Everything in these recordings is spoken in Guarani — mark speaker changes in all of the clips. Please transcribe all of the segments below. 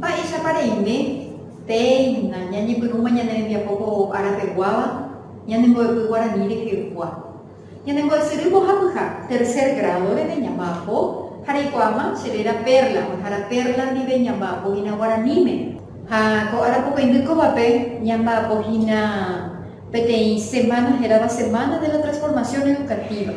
Speaker 1: Mba'éichapa reime péina ñañepyrũma ñane rembiapo ko árapeguáva ñanembo'epy guarani rehegua. Ñanembo'esyry mbohapyha, tercer grado reve ñamba'apo ha reikuaáma che réra Perla, oĩhára Perla ndive ñamba'apo hína guaraníme. Ha ko ára pokõindy kóvape ñamba'apo hína Peteĩ semana hérava Semana de la Transformación Educativa,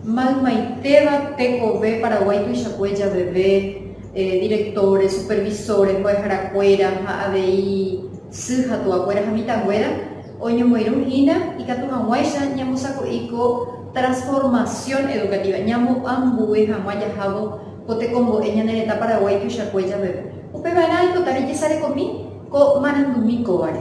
Speaker 1: maymaitéva tekove Paraguái tuichakue javeve, directores, supervisores, mbo'eharakuéra ha avei sy ha tuakuéra ha mitãnguéra oñomoirũ hína ikatu hag̃uáicha ñamosako'i ko transformación educativa, ñamoambue hag̃ua jahávo ko tekombo'e ñane retã Paraguái tuichakue javeve. Upeva'erã aipota rejesarekomi ko marandumi kóvare.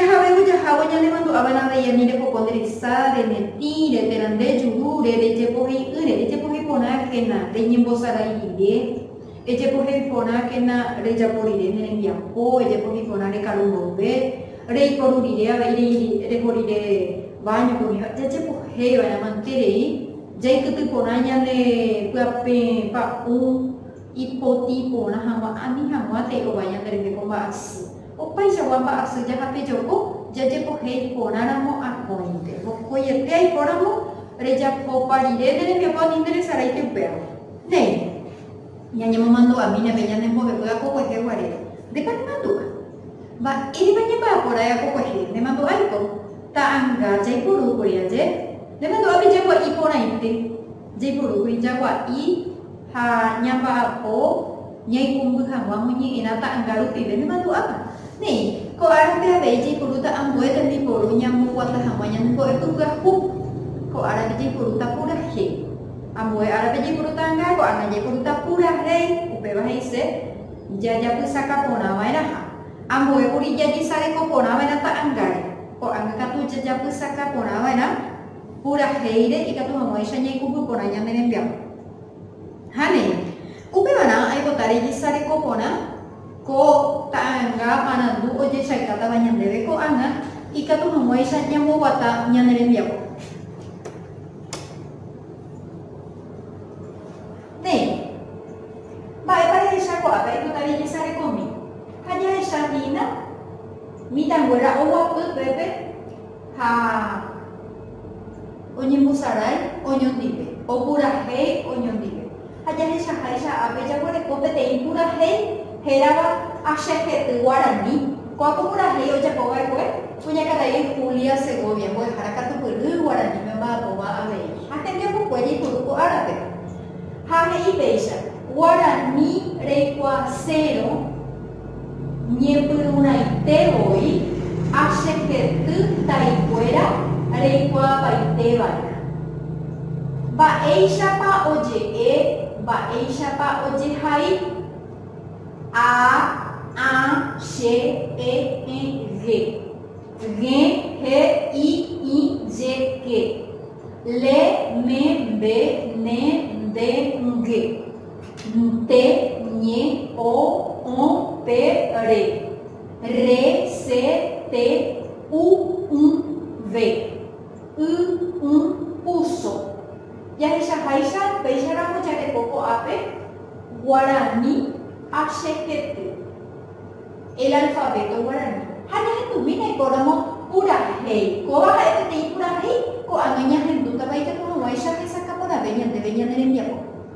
Speaker 1: Jahavévo jahávo ñanemandu'ava'erãve iani repoko nde resa, remetĩ, reterande juru, re rejepohei'ỹre, rejepohei porãkena, reñembosarai rire, rejepohei porãkena rejapo rire ne rembiapo, rejepohei porã rekaru mboyve, reiporu rire avei reho rire váñope umíva, jajepohei va'erã mante rei, jaikyty porã ñane pyapẽ pa'ũ ipotĩ porã hag̃ua ani hag̃uántei ovai ñande rehe ko mba'asy. Opaichagua mba'asy jahapejoko jajepohéi porãramo akóinte. Mokõiete aikóramo rejapopa rire ne rembiapo ani ne resaráipe upérõ. Néi, ñañemomandu'ami ñande ñane mbo'epy akokuehe guarére. Ndépa nemandu'a? Mba'érepa ñamba'aporã'e akokuehe? Nemandu'áiko ta'anga jaiporúkuri aje. Nemandu'ápe jagua'i porãite. Jaipurúkuri jagua'i ha ñamba'apo ñaikũmby hag̃ua moñe'ẽrã ta'anga rupive nemandu'áva. Néi, ko árape avei jaipurúta ambue tembiporu ñamboguata hag̃ua ñanembo'epy pyahu. Ko árape jaipurúta purahéi. Ambue árape jaipurúta anga, ko'ág̃a jaipurúta purahéi, upéva he'ise jajapysaka porã va'erãha. Ambue kuri jajesareko porã va'erã ta'angáre, ko'ág̃a katu jajapysaka porã va'erã. Purahéire ikatu haguãicha ñaikupy porã ñane rembiapo. Ha néi, upevarã aipota rejisareko porã ko ta'anga marandu ojechaykátava ñandéve ko'ág̃a ikatu haguãicha ñamboguata ñane rembiapo. Néi, mba'épa rehecha ko'ápe aipota rejesarekómi? Ha jahecha hína mitãnguéra oguapy pépe. ha oñembosarái oñondive, opurahéi oñondive. Ha jahechaháicha ápe jaguereko peteĩ purahéi hérava Achejety Guarani. Ko'ápe purahéi ojapo va'ekue kuñakarai Julia Segovia, mbo'ehára katupyry guaraníme omba'apóva avei ha hembiapokue jaipuru ko árape. Ha he'i péicha, Guarani reikuaasérõ. Ñepyrũraite voi achejety taikuéra reikuaapaitévare. Mba'éichapa oje'e, mba'éichapa ojehai. A, ã, che, e, ẽ, ge. G̃e, he, i, ĩ, je, ke. Le, me, mbe, ne, nde, nge. Nte, ñe, o, õ, pe, re. Re, se, te, u, ũ, ve. Y, ũ, uso. Jahechaháicha péicharamo jareko ko'ápe guarani ha chehety el alfavéto guarani ha ñahendumína ikóramo purahéi. Kóva ha'e peteĩ purahéi ko'ág̃a ñahendútava ijapo hag̃uáicha hesakãporãve ñandéve ñane rembiapo.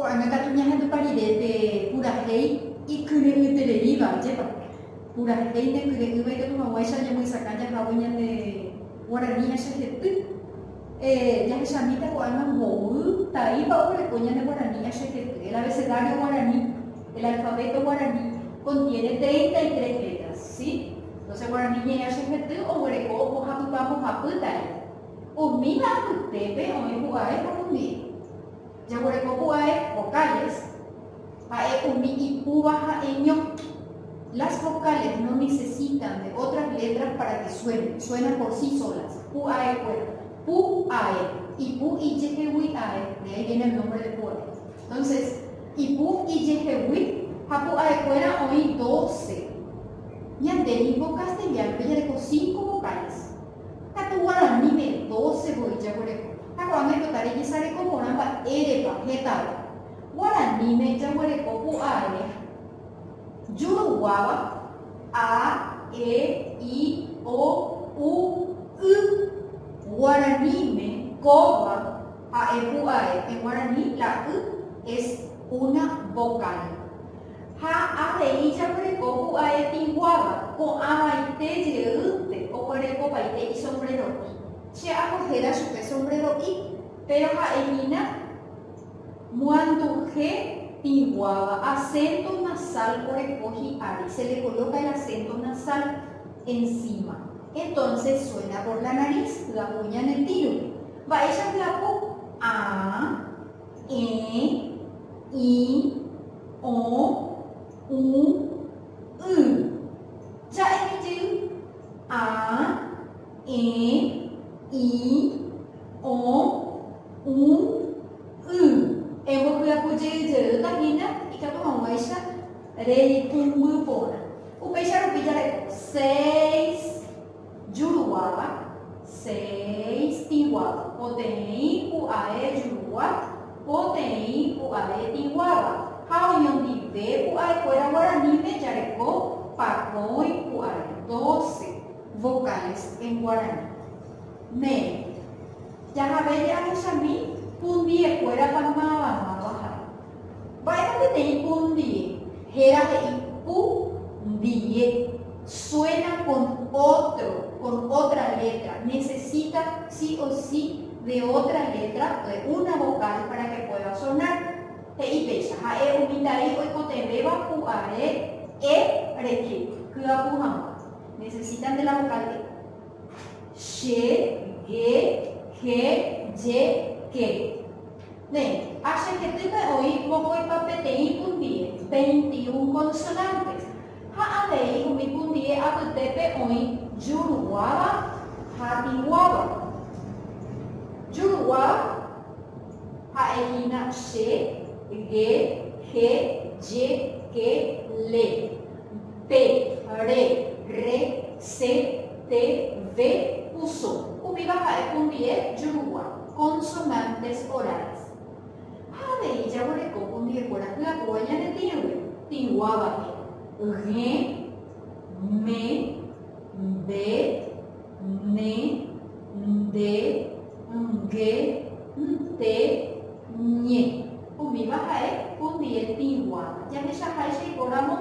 Speaker 1: Ko'ág̃a katu ñahendúpa rire pe purahéi ikyre'ỹtereíva, ajépa? Purahéi ndekyre'ỹva ikatu hag̃uáicha ñamoisakã jahague ñande guarani ha chehepy. Eh, jahechamíta ko'ág̃a mboy, taípa oguereko ñande guarani ha chehepy, el abecedario guarani, el alfabeto guarani, contiene treinta y tres letras, si? Entonces guarani ñe'ẽ ha chehepy oguereko ombohapypa mbohapy taípa. Umíva apytépe oĩ pu'ae ha rumiẽ. Jaguerekokuaái vocales, ha'e umi ipúva ha'eño. Las vocales no necesitan de otras letras para que suenen, suenan por sí solas. Pu'aekuéra. Pu, ae. Ipu ijehegui ae, de ahí viene el nombre de pu'ae. Entonces, ipu ijehegui ha pu'aekuéra oĩ doce. Ñande ningo castellano-pe jareko cinco vocales. Katu guaraníme doce voi jaguereko, ha ko'ág̃a oipota rejesareko porã mba'érepa hetave. Guaraníme jaguereko ku ae juruguáva, a, e, i, o, u, y. Guaraníme kóva ha'e ku ae, en guaraní la y es una vocal. Ha avei jaguereko pu'ae tĩguáva, ko'ãvaite jeýnte oguerekovaite isombreroi. Che apo héra chupe sombrero'i, péro ha'ehína moanduhe tĩguáva, asénto nasál oreko hi'ári, se le kolóka el asénto nasál ensíma, entónses suéna por la narís, hyapu ñane tĩrupe. Mba'éicha hyapu? Aa. E, i, o, u, y. Ja'e mi jey. A, e, i, o, u, y. Embohyapu jey jeýta hína ikatu hag̃uáicha reipumby porã. Upéicha rupi jareko, seis. Juruguáva, seis tĩguáva. Poteĩ pu'ae jurugua, poteĩ pu'ae tĩguáva. Ha oñondive pu'aekuéra guaraníme jareko pakõi pu'ae. Doce vocales en guaraní. Mér. Jahave je'ahechami pundiekuérapa mávamava ha'e. Mba'épa peteĩ pu ndie? Héra he'i pu ndie suena kon ótro, kon ótra létra, nesesita si o si de ótra létra, de una vokál pára ke puéda soná. He'i péicha, ha'e umi tari oikotevẽva pu are e reke hyapu hag̃ua, nesesitan de la vokál e. Che, ge, he, je, ke. Nde, a che hetýpe oĩ mokõipa peteĩ kundie, veinti y un konsonánte, ha avei umi kundie apytépe oĩ juruguáva ha tĩguáva. Juruguáva ha'e hína che, ge, je, je, ke, le. Pe, re, rre, se, te, ve, uso. Umíva ha'e pundie jurugua, consonantes orales. Ha avei jaguereko pundiekuéra hyapúva ñane tĩgui, tĩguávape, g̃e, me, mbe, Ne, nde, nge, nte, ñe. Umíva ha'e hundi etĩguáva. Jahechahaicha ipóramo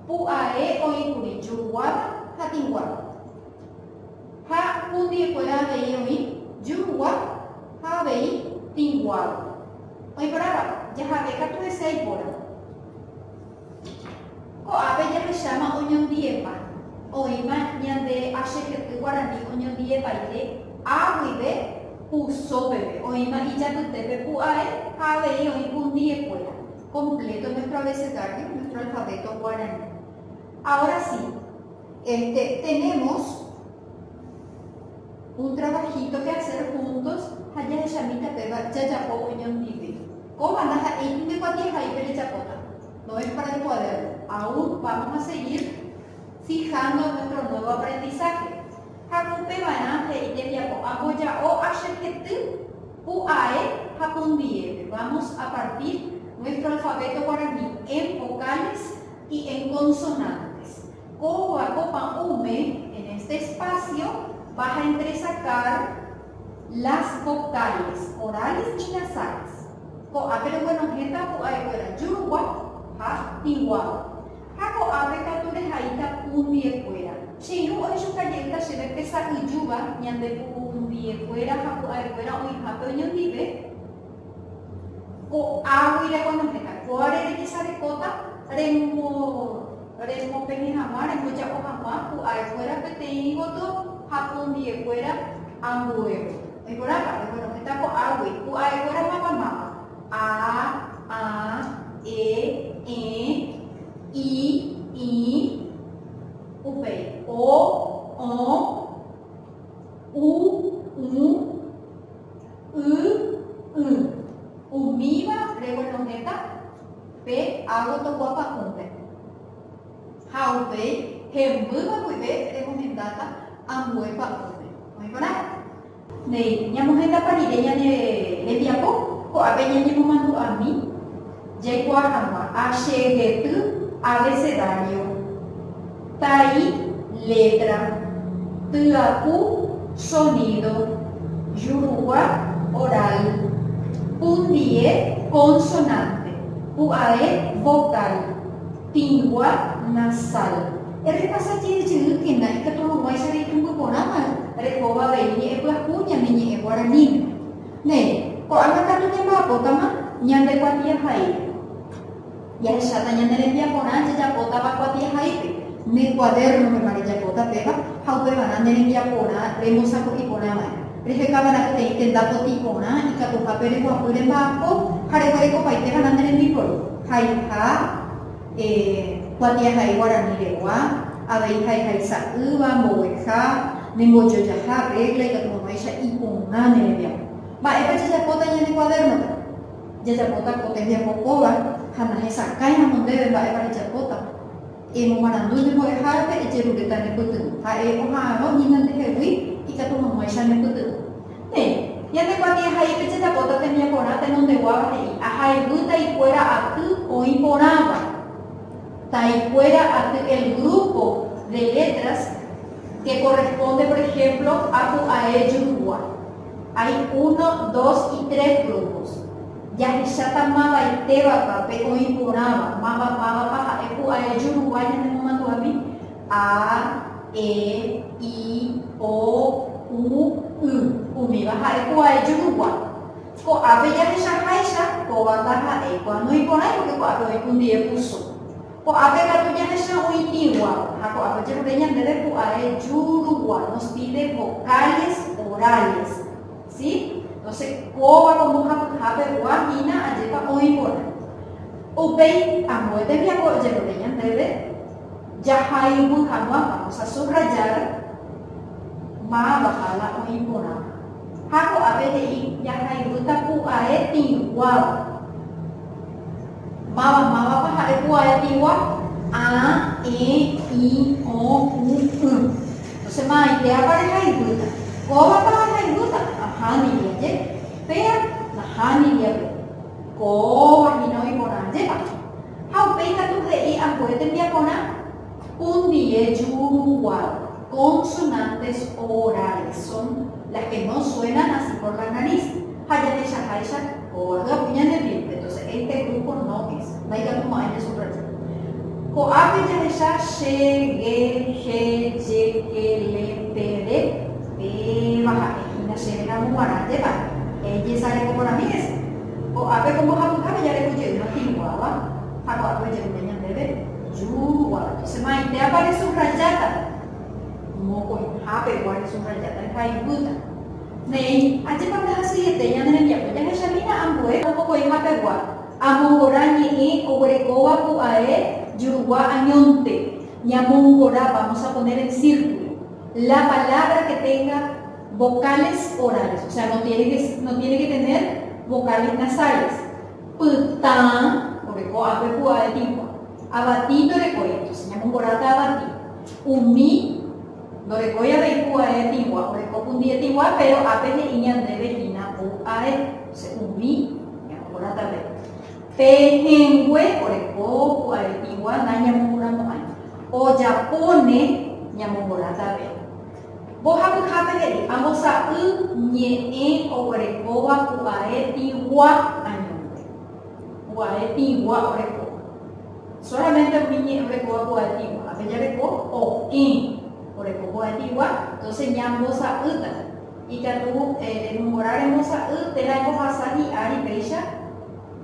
Speaker 1: pu'ae oĩkuri juguáva ha tĩguáva. Ha hundiekuéra avei oĩ jugua ha avei tĩguáva. Oĩporãva, jahave katu hese aipóra. Ko'ápe jahecháma oñondivepa. Oĩma ñande achehy'y guarani oñondivepaite a guive puso peve, oĩma ijapytépe pu'ae ha avei oĩ kundivekuéra completo nuestro abecedario, nuestro alfabeto guarani. Ahora sí, este, tenemos. Un trabajito que hacer juntos ha jahechamíta péva jajapo oñondive. Kóva ndaha'éi pende kuatiahaípe rejapóta, no es para el cuaderno, aún vamos a seguir fijando nuestro nuevo aprendizaje. Ha ku upeva'erã he'i tembiapo amboja'o achejety pu ae ha pu ndiépe, vamos a partir nuestro alfabeto guaraní en vocales y en consonantes. Ko oako pa'ũme, en este espacio, vas a entresacar las vocales orales y nasales. Ko'ápe reguenohẽta pu'aekuéra jurugua ha tĩguáva. Ha ko'ápe katu rehaíta pundiekuéra. Che irũ oĩ chuka jeýta chéve pe sa'yjúva ñande pundiekuéra ha pu'aekuéra oĩhápe oñondive. Ko'águi rekonohéta, kóvare rejesarekóta remopene hag̃ua, remboja'o hag̃ua ku aekuéra peteĩ voto ha pundiyekuéra ambuévo. Oĩporãpa, rekonohéta ko'águi ku aekuéra máva máva, a, ã, e, ẽ, i, ĩ, upéi, o, õ, u, ũ, Y, y. Umíva reguenohẽta pe água toguapa'ũpe. Ha upéi hembýva guive remohendáta ambue pa'ũme. Oĩporãva? Néi, ñamohendapa rire ñane rembiapo? Ko'ápe ñañemomandu'ami jaikuaa hag̃ua. A. Che hety abecedario. Tai, letra, tyapu, sonido, jurugua, oral, pundie, consonante, pu'ae, vocal, tingua, nasal. Errepasa jey jeyýkena ikatu hag̃uáicha reipumby porãva rehóva avei ñe'ẽpyahu ñane ñe'ẽ guaraníme. Néi, ko'ág̃a katu ñamba'apótama ñande kuatiahaípe. Jahecháta ñane rembiaporã jajapótava kuatiahaípe. Ne kuadérnopepa rejapóta péva ha upevarã ne rembiaporã rembosako'i porã va'erã. Rehekava'erã peteĩ tenda potĩ porã ikatuhápe reguapy remba'apo ha reguerekopaiteva'erã ne rembiporu, haiha, e, kuatiahai guarani regua, avei haiha isa'ýva, mbogueha, ne mbojojaha, régla, ikatu hag̃uáicha iporã ne rembiapo. Mba'épa jajapóta ñane kuadérnope? Jajapóta ko tembiapo kóva ha nahesakãiramo ndéve mba'épa rejapóta. Emomarandu nde mbo'ehárape ejerureta nepytyvõ. Ha'e oha'arõ hína ndehegui ikatu hag̃uáicha nepytyvõ. Néi, ñande kuatiahaípe jajapóta tembiaporã tenondeguáva he'i, Ahayhu taikuéra aty oĩ porãva. Taikuéra aty el grúpo de letras ke korrespónde, por ehémplo, a ku a e jurugua. Hay uno, dos y tres grupos. Jahecháta mavaitévapa pe oĩ porãva, máva mávapa ha'e ku aeju ruguái ñanemomandu'ami, a, e, i, o, u, y. Umíva ha'e ku aeju rugua. Ko'ápe jahechaháicha, kóva ndaha'éi ku anoĩ porãi, pórke ko'ápe oĩ ku ndive puso. Ko'ápe katu ñahecha oĩmígua, ha ko'ápe ojerure ñandéve pu'ae jurúgua, nos pide vocales orales, si? Entonces, kóva ko mbohapyha pegua hína ajépa oĩ porã. Upéi ambue tembiapo ojerure ñandéve jahayhu hag̃ua, vamos a subrayar, mávaha la oĩ porãva. Ha ko'ápe he'i jahayhúta pu'ae tĩguáva. Máva, mávapa ha'e ku ae tigua, a, e, i, o, u, y. Entonces ma'aitéapa rehaivýta? Kóvapa rehaivýta? Ahániri aje. Péa, nahániri aje. Kóva hína oiporã ajépa. Ha upéi katu he'i ambue tembiaporã. Un die yu uruguay consonantes orales son las que no suenan así por la nariz ha jahechaháicha kóva hyapu ñanemiénte entonces este grupo no es ndaikatu mo'ãi ñasubraya ko'ápe jahecha che ge je je ke le pe re péva ha'e hína chéve ramo guarã jepa ejesareko porãmi hese ko'ápe ko mbohapyhápe jareko jeýma tĩguáva ha ko'ápe ojerure ñandéve Júgua, che maitéapa resubrajáta? Mokõiha pegua resubrajáta rehaivýta. Néi, ajépa ndahasyiete ñane rembiapo jahechamína ambue ha mokõiha pegua, amongora ñe'ẽ oguerekóva pu'ae jurugua añónte, ñamongorápa vamos a poner en círculo, la palabra que tenga vocales orales, o sea, no tiene que tener vocales nasales. Pytã, ore ko ápe pu'a etigua. Avati ndorekói, entonces ñamomboráta avati. Umi, ndorekói avei pu'a etigua, ore ko pundi etigua, péro ápe he'i ñandéve hína pu ae, entonces umi, ñamomboráta avei. Pe hẽngue, ore ko pu'a etigua, nañamomboramo'ãi. Ojapóne, ñamomboráta avei. Mbohapyhápe he'i, Ambosa'y ñe'ẽ oguerekóva pu'ae pigua añónte. Pu'ae pigua orekóva. Sólamente umi ñe'ẽ orekóva pu'ae pigua. Ápe jareko okẽ oreko pu'ae pigua, entóse ñambosa'ýta. Ikatu remomora rembosa'y térã embohasa hi'ári péicha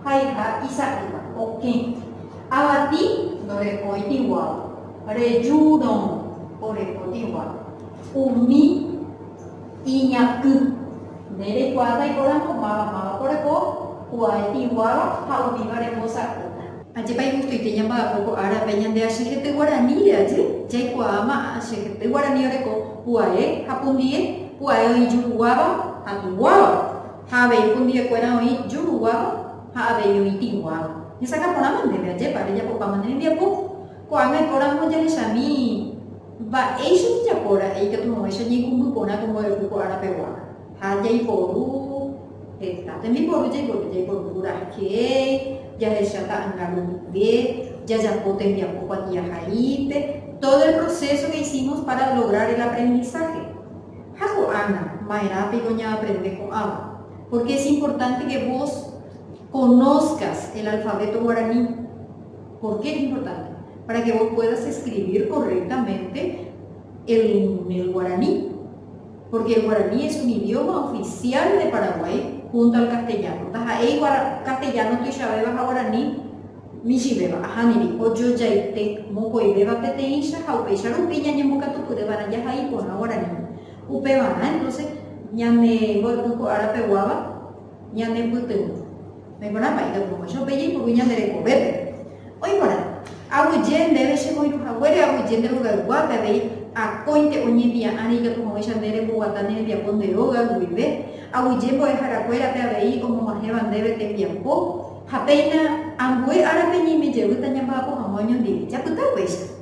Speaker 1: haiha isa'ýva, okẽ. Avati ndorekói piguáva. Rejúrõ orekodigua umi iñakỹ. Nde reikuaáta iporãmbo máva máva koreko, kuae iguáva ha umíva rembosa'ýta. Ajépa
Speaker 2: igustuite ñamba'apo ko árape ñande achejete guaraníre ajy jaikuaáma achejete guarani oreko kuae ha pundie, kuae oĩ juruguáva ha tĩguáva, ha avei pundiekuéra oĩ juruguáva ha avei oĩ tĩguáva. Hesakã porãma ndéve, ajépa rejapopáma ne rembiapo? Ko'ág̃a ikóramo jahechami mba'éicha ojejapo ra'e ikatu hag̃uáicha ñaikũmby porã ko mboy'u ko árapegua. Ha jaiporu heta tembiporu, jaiporu, jaiporu kura hakeéi, jahecha ta'anga rupive, jajapo tembiapo kuatiahaípe, todo el proceso que hicimos para lograr el aprendizaje. Ha ko'ág̃a maerã piko ñaaprende ko'ãva, porque es importante que vos conozcas el alfabeto guaraní. Por qué es importante? Para que vos puedas escribir correctamente el el guaraní porque el guaraní es un idioma oficial de Paraguay junto al castellano taha'éi castellano tuichavéva ha guaraní michĩvéva ahámiri ojojaite mokõivéva peteĩcha ha upéicha rupi ñañembokatupyry va'erã jahai porã guaraní upevarã entonces ñane mboypy ko árape guáva Ñanepytyvõ. Naiporã pa'i katu oho. Che upe jaipuru ñande rekovépe. Oĩ porã. Aguyje ndéve che moirũ haguére, aguyje nde rogayguápe avei akóinte oñempia'ãre ikatu haguéicha nde remboguata ne rembiapo nde róga guive, aguyje mbo'ehára kuérape avei omog̃uahẽva ndéve tembiapo, ha péina ambue árape ñaime jevýta ñamba'apo hag̃ua oñondive. Japyta upéicha.